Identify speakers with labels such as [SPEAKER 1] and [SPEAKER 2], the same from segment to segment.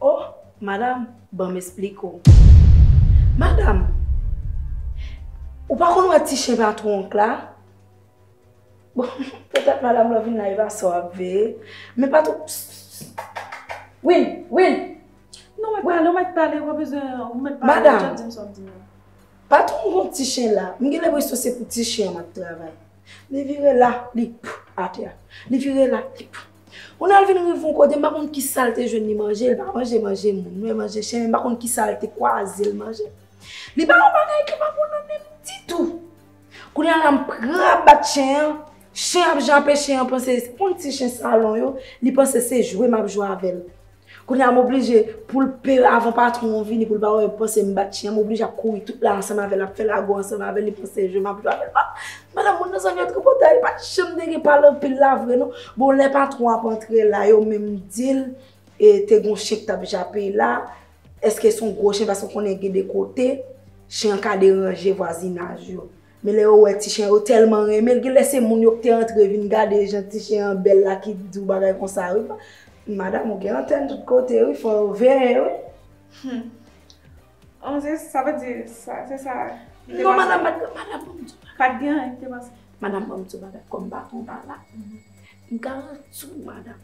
[SPEAKER 1] Oh!
[SPEAKER 2] Madam, banm esplike w. Madam, ou pa konn wè ti chen patwon w k la? Bon, petèt madam lan vin la epa sa w ap veye. Men patwon w, pss, pss, pss, Will, Will! Non mwen pale,
[SPEAKER 1] ou mèt pale, ou pa bezwen, ou mèt pale, ou jèt di m sa w ap di m lan. Madam,
[SPEAKER 2] patwon w gen ti chen la, m gen lenpresyon se pou ti chen an m ap travay. Li vire la, li, pff, atè. Li vire la, li, pff. Kounye a l vin rive yon kote m pa konn ki sa l te jwenn li manje, li pa manje manje moun, men manje chen, men m pa konn ki sa l te kwaze l manje. Li pa yon bagay ki pa bon nan men m ditou. Kounye a la m pran bat chen an, chen an ap jape, chen an panse, on ti chen salon yo, li panse se jwe m ap jwe avè l. Kounye a m oblije pou l pe l avan patwon an vini pou l pa wè m panse m bat chyen an, m oblije ap kouri tout la ansanm avè l, ap fè lago ansanm avè l, li panse se jwe m ap jwe avè l. Bon, madanm moun nan zanmi yo tripotay, li pa t janm te gen pale anpil la vre non. Bon, lè patwon an ap antre la, yo menm di l, e te gen yon chen ki t ap jape la, èske se yon gwo chen paske w konnen gen de kote, chen an ka deranje vwazinaj yo. Men lè yo wè ti chen yo tèlman renmen l, gen lè se moun yo k te antre vin gade jan ti chen an bèl la ki di w bagay konsa wi. Madam ou gen antèn tout kote wi, fò yo veye wi. Hum.
[SPEAKER 1] An se sa vle di sa, se sa. Non madam,
[SPEAKER 2] madam banm di w bagay. Pat
[SPEAKER 1] gen anyen ki te pase. Madam banm di w bagay,
[SPEAKER 2] kòm m pa konn pa la, m garanti w madam,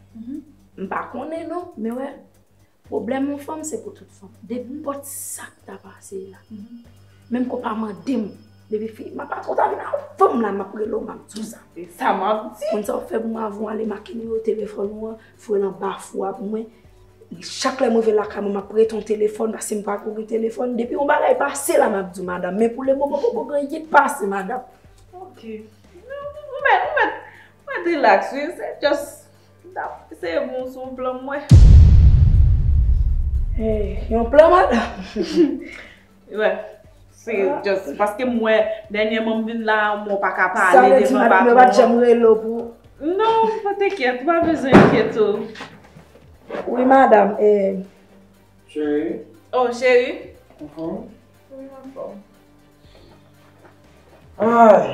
[SPEAKER 2] m pa konnen non, men wè, Pwoblèm yon fanm se pou tout fanm. Nenpòt sa k ta pase la. Menm ke w pa mande m. Depi fi m ap ou ta vin avè m la m ap rele w m ap di w sa. E sa m ap di. Konn
[SPEAKER 1] sa w fè pou m avè w
[SPEAKER 2] ale make nimewo telefòn ou an voye l anba fou a pou mwen. Chak lè m rive lakay mwen m ap prete yon telefòn paske m pa ko gen telefòn. Depi yon bagay pase la m ap di w madanm. Men pou lemoman poko gen anyen k pase madanm.
[SPEAKER 1] Ok. Ou mèt, ou mèt, ou mèt rilaks wi. Se just Mtap eseye pou m sou plan mwen.
[SPEAKER 2] Hey yon plan madame.
[SPEAKER 1] Wè se just paske m wè dènyèman m vin la mwen paka pale devan patron. Sa vle di madame yo pat janm rele w
[SPEAKER 2] pou. Non pa
[SPEAKER 1] te kyèt ou pa bezwen enkyete w.
[SPEAKER 2] Wi madame eh.
[SPEAKER 3] Cheri. Oh
[SPEAKER 1] cheri. Ou
[SPEAKER 3] anfòm? Wi m anfòm. Ay.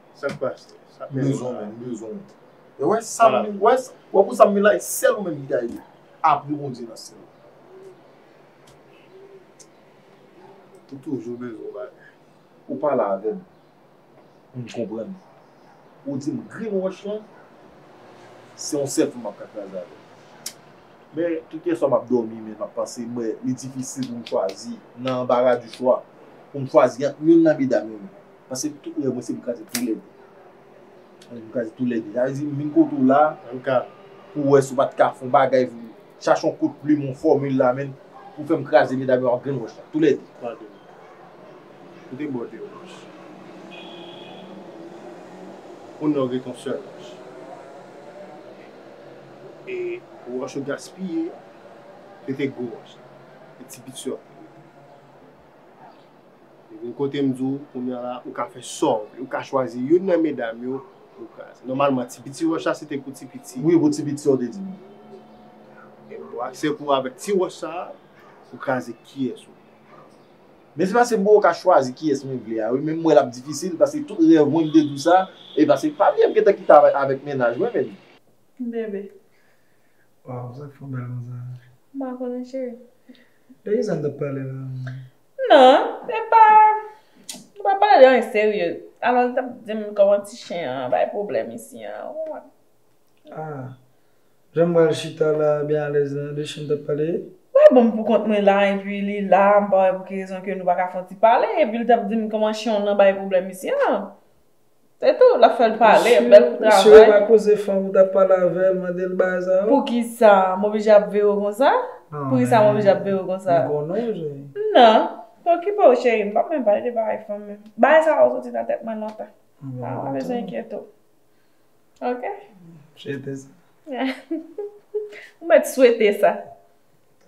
[SPEAKER 4] Sak
[SPEAKER 3] pas.
[SPEAKER 4] Sak menm. Bezwen menm. Bezwen menm. E wè sam. Wè. Wè pou sam menm la e sèl ou menm ki ka ede. Apre Bondye nan syèl la. Ou toujou bezwen yon bagay. Ou pale avèm. M konprann. Ou dim grenn wòch lan. Se yon sèl fwa map ka kraze avèl. Men tout yèswa map dòmi men map panse mwen li difisil poum chwazi nan anbara di chwa. Poum chwazi ant youn nan medam yo menm. Pase tout rèv mwen se pou kraze tou lède. Mwen pou kraze tou lède. Sa vle di m vin kote w la pou wè si w pa t ka fè yon bagay pou m. Chache yon kout plim, yon fòmil la menn pou fè m kraze medam yo ak grenn wòch la. Tou lède. Pase
[SPEAKER 3] kote bòt yo. Konn lè w gen ton sèl wòch. E wòch yo gaspiye. Pete gwo wòch la. Pete ti pit sèl. Li vin kote m di w kounya la ou ka fè sa w vle. Ou ka chwazi youn nan medam yo pou w kraze. Nòmalman ti piti wòch la se te pou ti piti. Wi pou ti piti yo te di
[SPEAKER 4] m. E
[SPEAKER 3] m ba w aksè pou avèk ti wòch sa a pou kraze kiyès ou vle. Men
[SPEAKER 4] se paske m poko ka chwazi kiyès mwen vle a wi men m wè l ap difisil paske tout rèv mwen m te di w sa e paske m pa byen m gentan kite a avèk mennaj mwen men. Bebe.
[SPEAKER 5] Waw sa k fè
[SPEAKER 1] w bèl konsa.
[SPEAKER 5] M pa konnen cheri. Depi sa n t
[SPEAKER 1] ap pale
[SPEAKER 5] la.
[SPEAKER 1] Non, se pa, nou pa pale de anyen serye. Alon li t ap di m kòman ti chen an bay pwoblèm isi an, ou
[SPEAKER 5] konprann. Ah, jan m pral chita la byen alèz la, de chen n t ap pale? Ou pa ban m pou kont mwen
[SPEAKER 1] la epi li la, m pa wè pou ki rezon ke nou pa ka fè yon ti pale, epi li t ap di m kòman chen w nan bay pwoblèm isi an. Se tou, lap fèl pale, bèl travay. Misye yo pa koze fanm
[SPEAKER 5] ou tap pale avèl mandel bagay sa yo? Poukisa m
[SPEAKER 1] oblije ap veyw konsa? Poukisa m oblije ap veyw konsa? M konnen w cheri. Nan, pa okipe w cheri m pap menm pale de bagay fanm menm. Bagay sa yo soti nan tèt mwen lontan. Sa pa bezwen enkyete w. Ok? Swete
[SPEAKER 5] sa.
[SPEAKER 1] Ou mèt swete sa.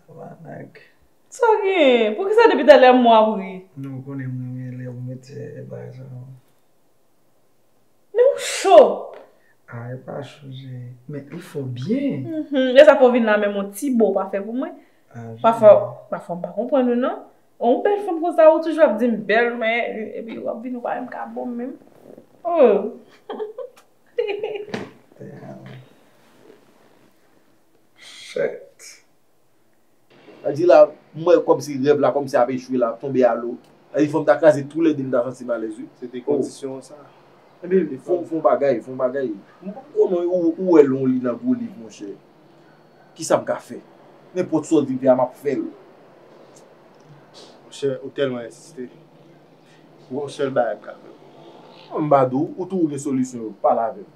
[SPEAKER 1] Tabarnak.
[SPEAKER 5] Sa gen? Poukisa depi
[SPEAKER 1] talè m wap ri? Non ou konnen m renmen
[SPEAKER 5] lè ou mete bagay sa yo.
[SPEAKER 1] Men ou cho! A e pa
[SPEAKER 5] cho chéri. Men ou fò byen. Lè sa fè w vin
[SPEAKER 1] la menm yon ti bo ou pa fè pou mwen? A jwe. Pafwa pafwa m pa konprann ou non. Yon bèl fanm konsa ou toujou ap di m bèl men epi wap vin ou pa menm ka bo m menm. Hihihihih. Damn.
[SPEAKER 5] Shitt. Sa
[SPEAKER 4] di la, m wè kòmsi rèv la kòmsi ap echwe la, ap tonbe a lo. Sa di fò m ta kraze tou lè de m ta santi m alèz wi. Se te kondisyon sa.
[SPEAKER 3] Enben,
[SPEAKER 4] fon w bagay, fon w bagay. M pa ko non, ou wè lon li nan gwo liv monchè. Kisa m ka fè? Nenpòt sa w di m fè a m ap fè l. Monchè,
[SPEAKER 3] ou tèlman ensiste. Gon sèl bagay m ka fè pou ou. M pa
[SPEAKER 4] di w, ou tou ou gen solisyon yo, pale avè m.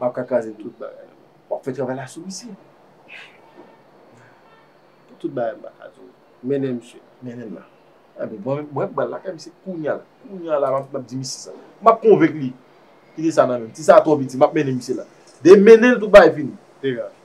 [SPEAKER 4] Map ka kraze tout bagay la. Wap
[SPEAKER 3] fè travay la
[SPEAKER 4] sou misye.
[SPEAKER 3] Pou tout bagay mpa ka diw. Mennen misye. Mennen la.
[SPEAKER 4] Ebyen bon mwen pral lakay misye kounya la. Kounya la map di misye sa. Map konvenk li. Kite sa nan menm. Ti sa twò piti map mennen misye la. Depi menenl tout bagay fini. Degaj.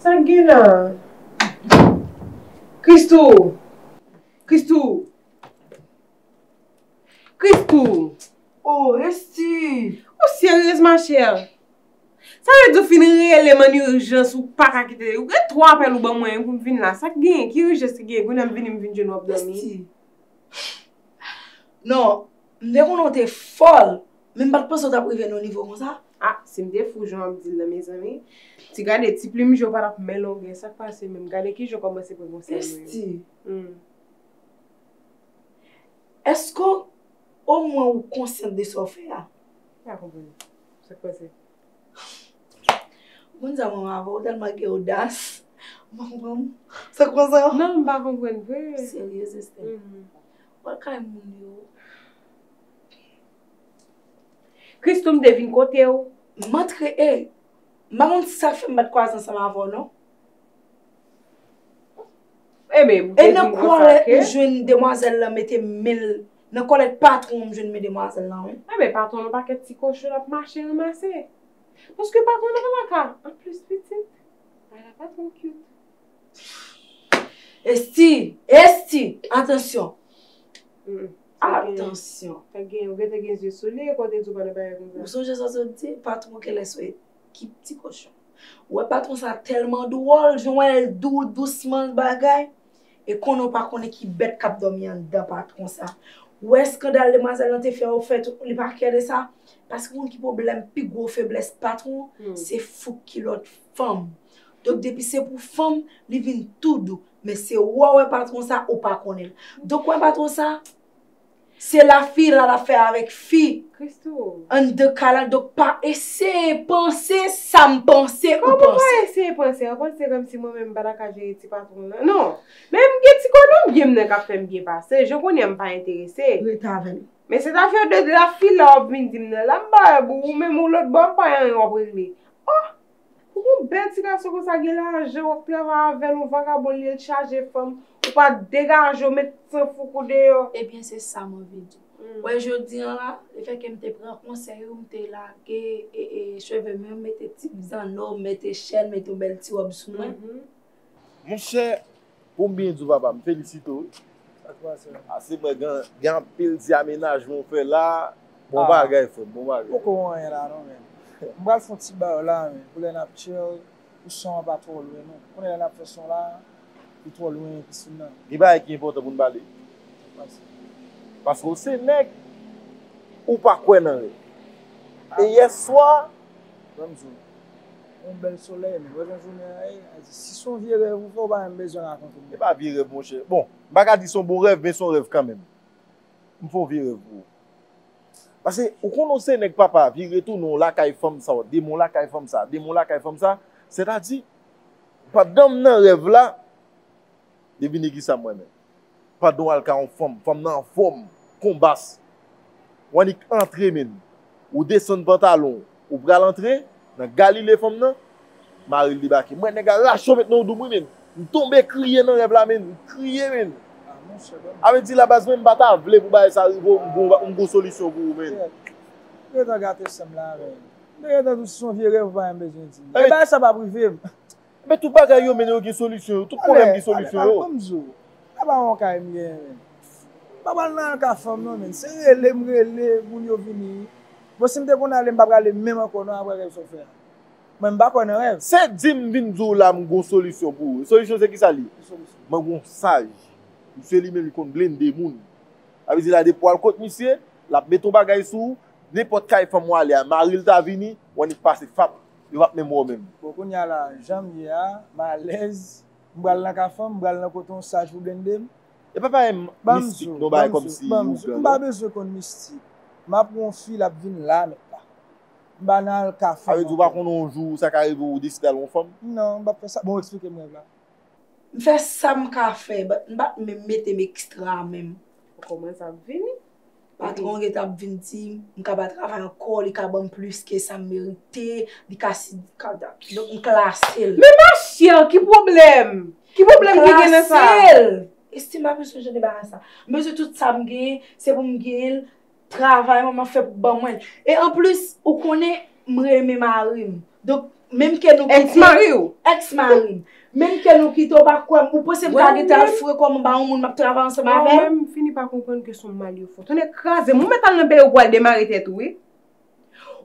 [SPEAKER 6] Sak gen la? Christoo! Christoo!
[SPEAKER 2] Christoo! Oh Esthie! Ou seryez
[SPEAKER 6] ma chère? Sa vle di ou fin relem an urgence ou paka kite, ou gen 3 apèl ou ban mwen pou m vin la, sak gen? Ki urgence ki gen? Kounya m vini m vin jwenn w ap dòmi? Esthie!
[SPEAKER 2] Non. M te konnen w te fòl, men m pa t panse w t ap rive nan yon nivo konsa. A, si m te fou
[SPEAKER 6] jan w ap di l lan mezanmi. Ti gade, ti plim je w pa t ap men longè, sa k pase menm? Gade kijan w kòmanse pran konsèy mwen yo. Esthie. Hum.
[SPEAKER 2] Èske w, omwen ou konsyant de sa w fè a? M pa konprann.
[SPEAKER 6] Sa k pase? Ou konn
[SPEAKER 2] sa mwen wè avè w, ou tèlman gen odas. M pa konprann. Sa k pase? Non, m pa konprann vre.
[SPEAKER 6] Seryeuz Esthie.
[SPEAKER 2] Hum. Pran kay moun yo ok.
[SPEAKER 6] Christoo m te vin kote w. M antre e
[SPEAKER 2] m pa konn sa k fè m pat kwaze ansanm avè w non. E men ou te
[SPEAKER 6] vin konsa ke. E nan kòlèt m
[SPEAKER 2] jwenn demwazèl lan mete men l nan kòlèt patwon w m jwenn men demwazèl lan wi. E men patwon l yon pakèt
[SPEAKER 6] ti kochon l ap mache ranmase. Paske patwon l pa nan ka. Anplis pitit. Ala patwon cute.
[SPEAKER 2] Esti! Esti! Atansyon! Atansyon! Fèk gen yon gète gen
[SPEAKER 6] zye sou li e konte di w pa nan bagay konsa. Ou sonje sa sot di
[SPEAKER 2] patwon kèlès wè ki pti kòchon. Ou wè patwon sa tèlman dwòl, jan w wè l dou, dousman l bagay. E konnen w pa konnen ki bèt k ap dòmi anndan patwon sa. Ou wè eskandal demwazèl lan te fè yo fè tout, li pa kè de sa. Paske ou konn ki pwoblèm pi gwo feblès patwon? Se fouk kilòt. fanm donk depi se pou fanm li vin tou dou men se ou a wè patron sa ou pa konnen l donk wè patron sa se la fi la lap fè avèk fi anndan
[SPEAKER 6] kay la
[SPEAKER 2] donk pa eseye panse sa m panse ou panse kòman pa eseye
[SPEAKER 6] panse ou panse kòm si mwen menm m pa ta ka jere ti patron nan non men m gen ti konnen byen m nan kap fè m byen pase jan kounye a m pa enterese rete avè m
[SPEAKER 2] men se zafè de
[SPEAKER 6] la fi la wap vin di m nan la m pa wè pou ou menm ou lòtbò wap pa yon yon wap regle. Oh! Pou yon bèl ti gason konsa gen lajan wap travay avèl yon vagabon li el t chaje fanm ou pa degajew met san fouk ou deyò. Ebyen se sam anvi
[SPEAKER 2] di. Ou wè jodi an la, le fè kem te pran konsèy ou m te lage chevem yo m mete ti zanno, m mete chèn, m mete yon bèl ti rob sou mwen. Monchè
[SPEAKER 4] pou m byen di w papa m felisite w wi. Sa fè sa. Pase mwen gen anpil ti amenajman w fè la. Bon bagay frè m, bon bagay. Ou poko wè anyen la non men.
[SPEAKER 5] M pral fè yon ti bayo la men pou lè n ap chill pou son an pa twò lwen nou. Kounye a lè n ap fè son la li twò lwen pisin nan. Gen bagay ki enpòtan pou
[SPEAKER 4] n pale. Sa k pase? Paske w se nèg, ou pa kwè nan rèv. E yèswa, ban m di w.
[SPEAKER 5] Yon bèl solèy men wè jan jounen an ye ayiti si son vye rèv ou fè ou pa menm bezwen rakonte m. Epa vye rèv monchè
[SPEAKER 4] bon m pa ka di son bon rèv men son rèv kanmenm m fon vye rèv pou ou pase ou konnen w se nèg papa vire tounen w lakay fanm sa w demen w lakay fanm sa demen w lakay fanm sa sètadi pandan m nan rèv la Devine kisa m renmen pandan w al ka yon fanm, fanm nan anfòm, konbas. W annik antre menn, ou desann pantalon w, ou pral antre nan galile fanm nan, mari l debake. M wè nèg la rache w met nan w dou m wi menn. M tonbe kriye nan rèv la menn, m kriye menn. A vle di la baz mwen m pa ta vle pou bagay sa rive w, m gon solisyon pou ou menn. Ou gentan
[SPEAKER 5] gate san m la avè w. M te gentan di w se yon vye rèv ou pa menm bezwen di m. E bagay sa p ap rive m. Men tout bagay
[SPEAKER 4] yo men yo gen solisyon yo, tout pwoblèm gen solisyon yo. Ale, ale, ale banm di w, la
[SPEAKER 5] ba yon kay m genyen menm. M pa pral nan ka fanm non menn, se rele m rele moun yo vini. Bon si m te konn ale m pa prale menm ankò non aprè rèv sa w fè a. Mwen m pa kwè nan rèv. Se di m vin di
[SPEAKER 4] w la m gon solisyon pou ou. Solisyon se kisa l ye? Ki solisyon? Mwen gon saj. Misye li menm li konn blende moun. Sa vle di la depi w al kot misye, l ap met yon bagay sou ou, nenpòt kay fanm w ale a, mari l ta vini, w annik pase fap. yo pap menm wè w menm. Bon kounya la janm
[SPEAKER 5] ye a m alèz m pral nan ka fanm m pral nan kote yon saj pou blende m. Epa bay
[SPEAKER 4] mistik non bay komsi ou gran non. M pa bezwen konn
[SPEAKER 5] mistik m ap wè yon fi l ap vin la met la m pa nan al ka fanm ankò. Sa vle di ou pa konnen yon jou
[SPEAKER 4] sa ka rive ou deside al wè yon fanm? Non m pap fè sa bon ou
[SPEAKER 5] eksplike m rèv la. M fè
[SPEAKER 2] sa m ka fè but m pat menm mete m extra menm. Bon kòman sa ap
[SPEAKER 6] vini. Patwon gen
[SPEAKER 2] tan ap vin di m, m ka pa travay ankò, li ka banm plis ke sa m merite, li ka si, li ka da. Donk m klase l. Men ma chè,
[SPEAKER 6] ki pwoblèm? Ki pwoblèm ki gen nan sa? M klase l! Estim pa bezwen
[SPEAKER 2] jan de bagay sa. M bezwen tout sa m genyen, se pou m genyen l, travay mwen m ap fè pou ban mwen l. E anplis, ou konnen. M renmen mari m. Donk, menm ke nou kite. Èks mari ou? Èks mari m. Menm ke nou kite, ou pa kwè m. Ou panse m ka gen tan fre kò m anba yon moun m ap travay ansanm avè l? Ou menm, m fini pa konprann
[SPEAKER 6] ke son mal yo fò. Tonnè kraze m, ou mèt al nan peyi w pou al demare tèt ou wi.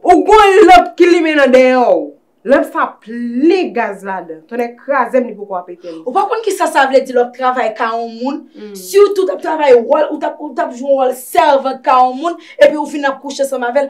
[SPEAKER 6] Ou gon lanp ki limen nan deyò w. Lanp sa plen gaz ladan. Tonnè kraze m, li poko ap etenn. Ou pa konn kisa sa
[SPEAKER 2] vle di lè w ap travay ka yon moun, sitou w t ap travay wòl, ou t ap jwe wòl sèvant ka yon moun, epi ou fin ap kouche ansanm avè l.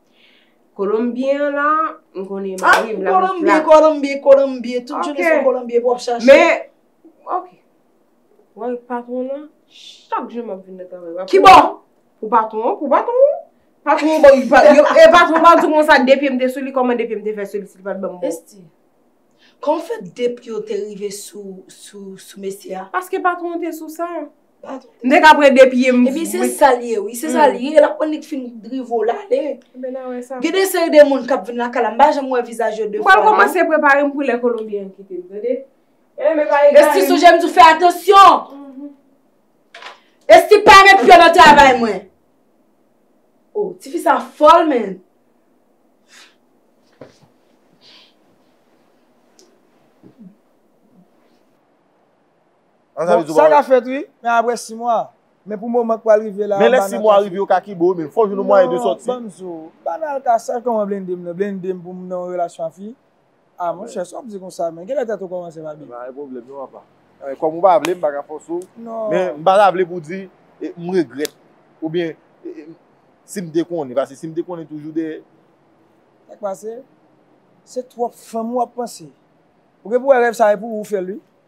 [SPEAKER 6] Kolonbyen an la, m konnen mari m la. An, Kolonbyen, Kolonbyen,
[SPEAKER 2] Kolonbyen, tout jounen se Kolonbyen pou ap chache. Men,
[SPEAKER 6] ok, wè l patwon lan, chak jou m ap vin nan travay la. Ki bò?
[SPEAKER 2] Pou patwon
[SPEAKER 6] an, pou patwon an. Patwon an, e patwon an pa di kon sa, 2 pye m te sou li, kòman 2 pye m te fè sou li si li pa t ban m bon? Esti,
[SPEAKER 2] kòman fè 2 pye w te rive sou mesye a? Paske patwon an
[SPEAKER 6] te sou sa. M te ka
[SPEAKER 2] pran 2 pye
[SPEAKER 6] m vomi. Ebyen se sa l
[SPEAKER 2] ye wi, se sa l ye, l ap pran li t fin drivo l ale. Gen de
[SPEAKER 6] seri de moun k ap
[SPEAKER 2] vin lakay la, m pa janm wè vizaj yo 2 fwa. M pral kòmanse prepare m
[SPEAKER 6] pou lè kolonbyen an kite m tande. Esti sonje m di w fè
[SPEAKER 2] atansyon! Esti pa met pyon nan travay mwen! O, tifi sa fòl menn!
[SPEAKER 5] Bon, sa ka fèt wi, men apre 6 mwa. Men pou moman k pral rive la. Men lè 6 mwa rive yo
[SPEAKER 4] ka kenbe w menm. Fò w jwenn yon mwayen de sòti. Non, banm di w. Banal ka
[SPEAKER 5] sa kòman blende m nan. Blende m pou m nan yon relasyon ak fi. A monchè, sa w ap di konsa menm. Kilè tèt ou kòmanse pa byen? Pa gen pwoblèm non apa.
[SPEAKER 4] Kòm ou pa vle, m pa ka fòse w. Non. Men m pa ta vle pou w di m regrèt. Oubyen si m te konnen. Paske si m te konnen toujou dèyè. Sa k
[SPEAKER 5] pase? Se twòp fanm ou ap panse. Ou gen pou wè rèv sa e pou ou fè l wi.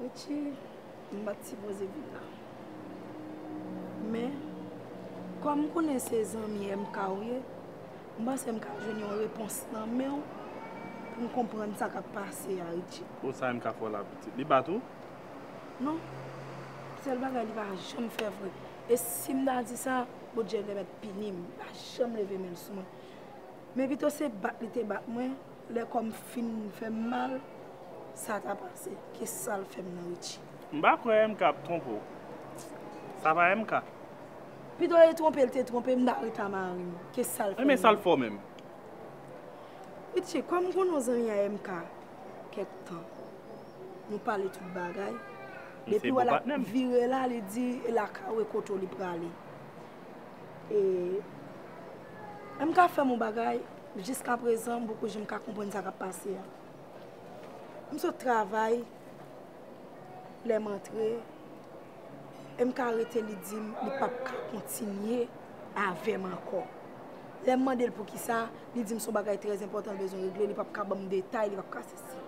[SPEAKER 2] Richie, m pat sipoze vin la. Men, kòm m konnen se zanmi MK ou ye, m panse m ka jwenn yon repons nan men w pou m konprann sa k ap pase a Richie. Bon, sa MK fè w la
[SPEAKER 7] pitit? Li bat ou? Non.
[SPEAKER 2] Sèl bagay li pa janm fè vre, e si m ta di sa, Bondye te mèt pini m. Li pa janm leve men l sou mwen. Men pito se bat li te bat mwen, Lè kòm fin fèm mal sa ta pase ke sal fèm nan Richie. M pa kwè MK
[SPEAKER 7] ap twonpe w. Sa pa MK. Pito
[SPEAKER 2] li twonpe l te twonpe m ta reta mari m ke sal fèm nan. Men sal fò menm. Richie kòm m konnen w zanmi a MK kèk tan nou pale tout bagay depi wè lap vire la li di lakaw e kote w li prale E M ka fè m yon bagay, jiskaprezan m poko janm ka konprann sa k ap pase a. M sot travay, lè m antre, e m ka rete li di m li pap ka kontinye avè m ankò. Lè m mande l poukisa, li di m son bagay trèzenpòtan l bezwen regle, li pap ka ban m detay, li pap ka sesi.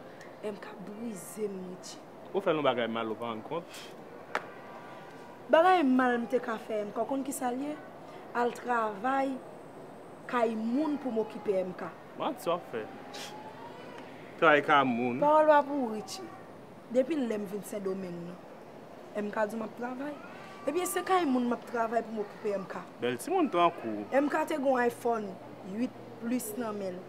[SPEAKER 2] MK, Brize m Richie. Ou fèl yon bagay mal
[SPEAKER 7] ou pa rann kont? Bagay
[SPEAKER 2] mal m te ka fè MK ou konn kisa l ye? Al travay kay moun pou m okipe MK. Manti w ap fè.
[SPEAKER 7] Travay kay moun. Pawòl pa pou ou Richie.
[SPEAKER 2] Depi lè m vin Sendomeng nan. MK di w m ap travay? Ebyen se kay moun m ap travay pou m okipe MK. Bèl timoun tankou
[SPEAKER 7] w. MK te gen yon
[SPEAKER 2] iPhone 8 plus nan men l.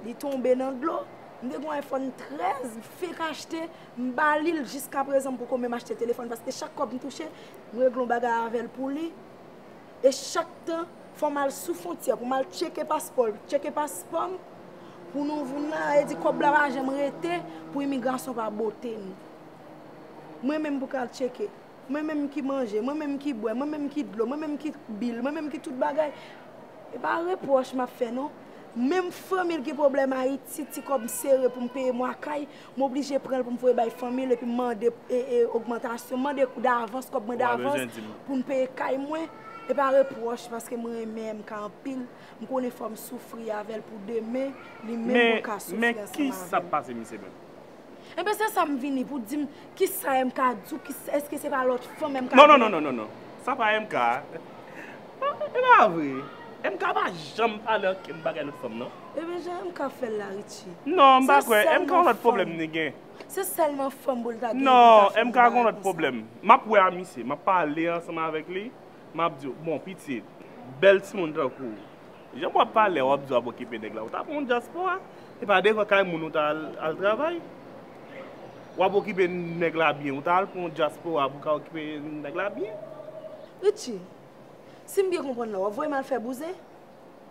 [SPEAKER 2] Li tonbe nan dlo. M te gen yon iPhone 13 m fenk achte, m ba li l jiska prezan m poko menm achte telefòn paske chak kòb m touche, m regle yon bagay avè l pou li. E chak tan fò m al sou fontyè pou m al tcheke paspò l, tcheke paspò m pou nou vin la, e di kòb la pa janm rete pou imigrasyon pa bote nou. Mwen menm pou k al tcheke. Mwen menm ki manje, mwen menm ki bwè, mwen menm ki dlo, mwen menm ki bil, mwen menm ki tout bagay. E pa repwòch m ap fè non. Menm fanmi l gen pwoblèm Ayiti, ti kòb m sere pou m peye mwa kay, m oblije pran l pou m voye bay fanmi l epi m mande ogmantasyon, m mande davans, kòb mwen davans pou m peye kay mwen. E pa repwòch paske m renmen MK anpil, m konnen fò m soufri avè l pou demen li menm pou l ka soufri ansanm avè m. Men, kisa k pase
[SPEAKER 7] misye menm? Enben se sa
[SPEAKER 2] m vini pou di m ki sa MK di w, eske se pa lòt fanm MK vini. Non, non, non, sa
[SPEAKER 7] pa MK. E pa vre, MK pa janm pale ankenn bagay lòt fanm non. Enben jan MK fè
[SPEAKER 2] l la Richie. Non, m pa kwè,
[SPEAKER 7] MK yon lòt pwoblèm li gen. Se sèlman fanm pou l ta
[SPEAKER 2] gen pou l ta fè yon bagay konsa. Non, MK gen yon lòt
[SPEAKER 7] pwoblèm. M ap wè a misye, m ap pale ansanm avèk li, m ap di w, bon pitit, bèl timoun tankou w. Jan wap pale wap di wap okipe neg la ou ta pran yon dyaspora e pa devan kay moun ou ta al travay wap okipe neg la byen ou ta al pran yon dyaspora pou ka okipe neg la byen.
[SPEAKER 2] Richie, si m byen konprann la, w ap voye m al fè bouzen?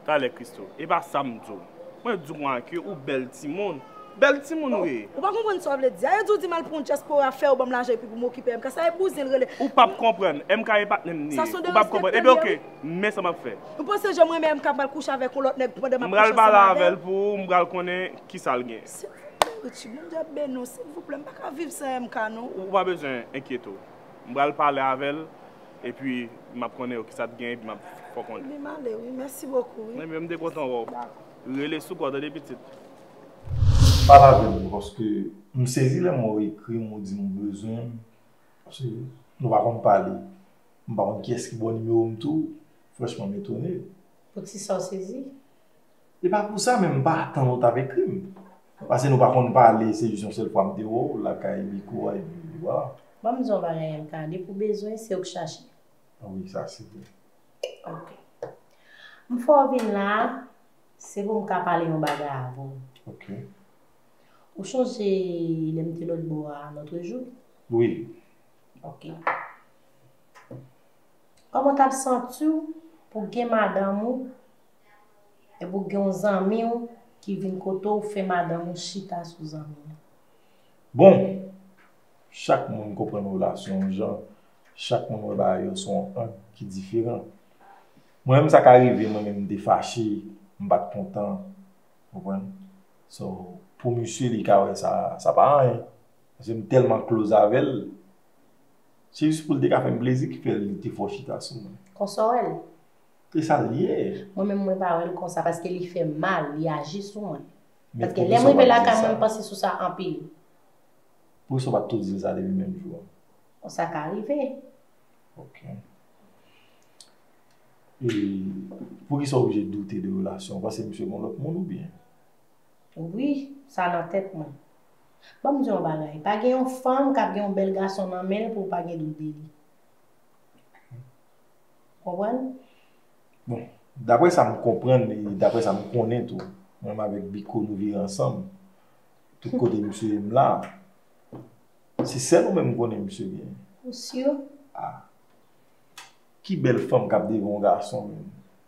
[SPEAKER 2] Talè
[SPEAKER 7] Christo, e pa sa m di w. Mwen di w an ke ou bèl timoun. Bèl timoun ou ye. Ou pa konprann sa w vle di
[SPEAKER 2] a. Yo di w di m al pran yon dyaspora, fè yo ban m lajan epi pou m okipe MK. Sa e bouzen l rele. Ou p ap konprann.
[SPEAKER 7] MK e patnè m li ye. Ou p ap konprann. Ebyen ok. Men sa map fè. Ou panse janm renmen MK
[SPEAKER 2] pral kouche avèk yon lòt nèg pandan map kouche ansanm avèl? M pral pale avèl pou
[SPEAKER 7] ou, m pral konnen kisal gen. Silvouplè Richie, Bondye
[SPEAKER 2] ap beni w, silvouplè m paka viv san MK non. Ou pa bezwen
[SPEAKER 7] enkyete w. M pral pale avèl epi map konnen yo kisa t gen epi map fè w konnen. Ebyen m ale wi, mèsi bokou
[SPEAKER 2] wi. Mwen menm m te kontan wè w. Dakò.
[SPEAKER 7] Rele sou kò w tande pitit.
[SPEAKER 4] Pale avèm tou paske m sezi lè m wè w ekri m ou di m ou bezwen m paske nou pa konn pale. M pa konn kiyès ki bo nimero m tou franchman m etone. Pou ti sa w
[SPEAKER 8] sezi? E pa
[SPEAKER 4] pou sa men m pa atann ou t ap ekri m. Pase nou pa konn pale se jis yon sèl fwa m te wè w lakay Miko a epi wala. Ban m di w yon bagay
[SPEAKER 8] MK, depi w bezwen se w k chache. A wi sa
[SPEAKER 4] se vre. Ok.
[SPEAKER 8] M fè w vin la a se pou m ka pale yon bagay avè w. Ok. Ou chonje lè m te lòtbò a lòtrejou? Wi.
[SPEAKER 4] Ok.
[SPEAKER 8] Koman w tap santi w pou w gen madanm ou e pou gen yon zanmi w ki vin kote w fè madanm ou chita sou zanmi l? Bon,
[SPEAKER 4] chak moun konprann relasyon yon jan, chak moun wè bagay yo sou yon ang ki diferan. Mwen menm sa ka rive mwen menm m te fache, m pat kontan, ou konprann? So, pou misye li ka wè sa, sa pa anyen. Paske m tèlman close avè l. Se jis pou l te ka fè m plezi ki fè li te fò chita sou mwen. Konsa w wè l?
[SPEAKER 8] Se sa
[SPEAKER 4] l ye. Mwen menm mwen pa wè l
[SPEAKER 8] konsa paske li fè m mal, li aji sou mwen. Paske lè m rive lakay mwen m panse sou sa anpil.
[SPEAKER 4] Poukisa w pa t tou di l sa depi menm jou an? Bon sa ka
[SPEAKER 8] rive. Ok. E
[SPEAKER 4] poukisa w oblije doute de relasyon w? Ou panse misye gen lòt moun oubyen? Wi,
[SPEAKER 8] sa nan tèt mwen. Ban m di w yon bagay, pa gen yon fanm k ap gen yon bèl gason nan men l pou l pa gen dout de li. Ou konprann?
[SPEAKER 4] Bon, daprè sa m konprann e daprè sa m konnen tou, mwen menm avèk Biko nou viv ansanm, tout kote misye ye m la, se sèl ou menm m konnen misye genyen. Ou si?
[SPEAKER 8] A!
[SPEAKER 4] Ki bèl fanm k ap devan yon gason menm?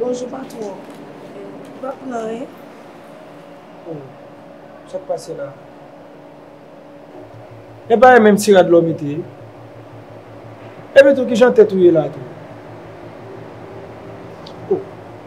[SPEAKER 2] Bonjou patwon, m pa pran anyen.
[SPEAKER 5] Oh, sa k pase la? E pa e menm ti rad lò mete? Epi tou ki jan tèt ou ye la tou? Oh.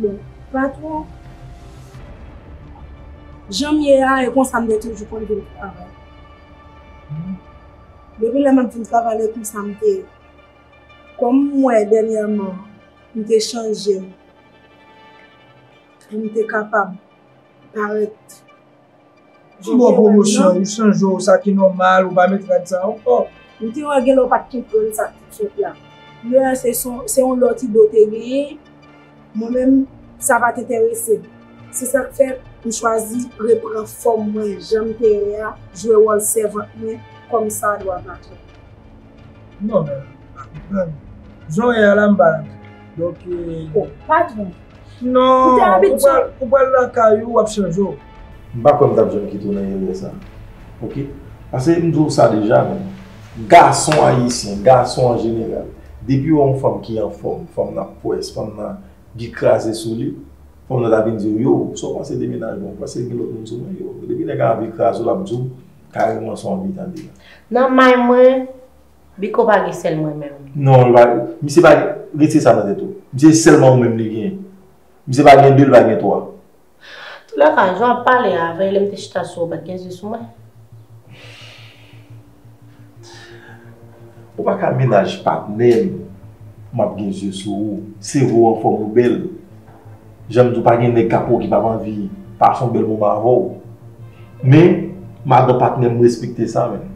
[SPEAKER 5] Bon,
[SPEAKER 2] pa twò jan m ye a, e konsa m te toujou konn vin travay. Depi lè m ap vin travay lè konsa m te, kòm m wè dènyèman m te chanje m pou m te kapab parèt.
[SPEAKER 5] Sou bon pwomosyon, ou chanje w, sa ki nòmal, ou pa met rad sa ankò. Ou te wè gen lè ou
[SPEAKER 2] pa t konprann sa k te fèt la. Lè a se yon lòt ide ou te genyen, mwen menm sa pa t enterese m. Se sa k fè m chwazi repran fòm mwen jan m te ye a, jwe wòl sèvant mwen kòmsadwa patwon.
[SPEAKER 5] Non men pa konprann. Jan w ye a la m pa renmen w. Donk e. O pa
[SPEAKER 2] twouve.
[SPEAKER 5] Non, ou pral lakay ou, w ap chanje w. M pa
[SPEAKER 4] kwè m t ap janm kite w nan erè sa. Ok. Pase m di w sa deja menm. Gason ayisyen, gason an jeneral, depi yo wè yon fanm ki anfòm, fanm nan pwès, fanm nan gen kraze sou li, fanm nan ta vin di w, Yow, sa w panse de mennaj mwen? Ou panse gen lòt moun sou mwen? Yow. Depi nèg a anvi kraze w, l ap di w. Kareman sa w vle tande la. Nan may
[SPEAKER 8] mwen, Biko pa gen sèl mwen menm. Non,
[SPEAKER 4] misye pa gen, retire sa nan tèt ou. Misye se sèlman ou menm li gen. Misye pa gen de, li pa gen twa. Tou lè
[SPEAKER 8] ka, jan w ap pale a, veye lè m te chita sou ou pa t gen zye sou mwen.
[SPEAKER 4] Ou pa ka mennaj patnè m, m ap gen zye sou ou. Sevo w anfòm, ou bèl. Janm di w pa gen nèg kap wè w ki pap anvi pase yon bèl moman avè w. Men, madan patnè m respekte sa menm.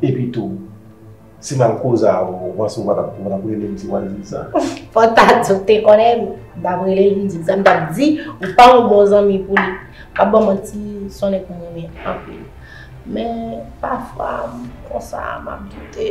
[SPEAKER 4] Epi tou, si m al koze avè w, ou panse w pa tap rele m ti wazin sa? Fò ta di w
[SPEAKER 8] te konnen m, m tap rele l vin di m sa. M tap di ou pa yon bon zanmi pou li. Pa ban m manti, s on nèg m renmen anpil. Men, pafwa, m konsa, m ap doute.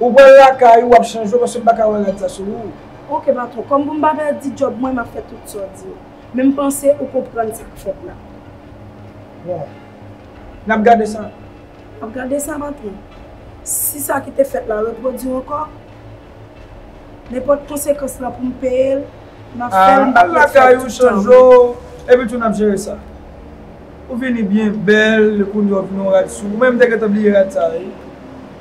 [SPEAKER 5] Ou pral lakay ou wap chanje w paske m paka wè rad sa sou ou. Ok patron, kòm
[SPEAKER 2] pou m pa pèdi djòb mwen map fè tout sa w di yo. Men m panse ou konprann sa k fèt la.
[SPEAKER 5] Bon. Nap gade sa. Nap gade sa
[SPEAKER 2] patron. Si sa ki te fèt la repwodui ankò, nenpòt konsekans la pou m peye l, map fè l m pap ret
[SPEAKER 5] fè l tout tan. Al lakay ou chanje w, epi tou nap jere sa. Ou vini byen bèl kounye w ap gen yon rad sou ou. Mwen menm m te gentan bliye rad sa wi.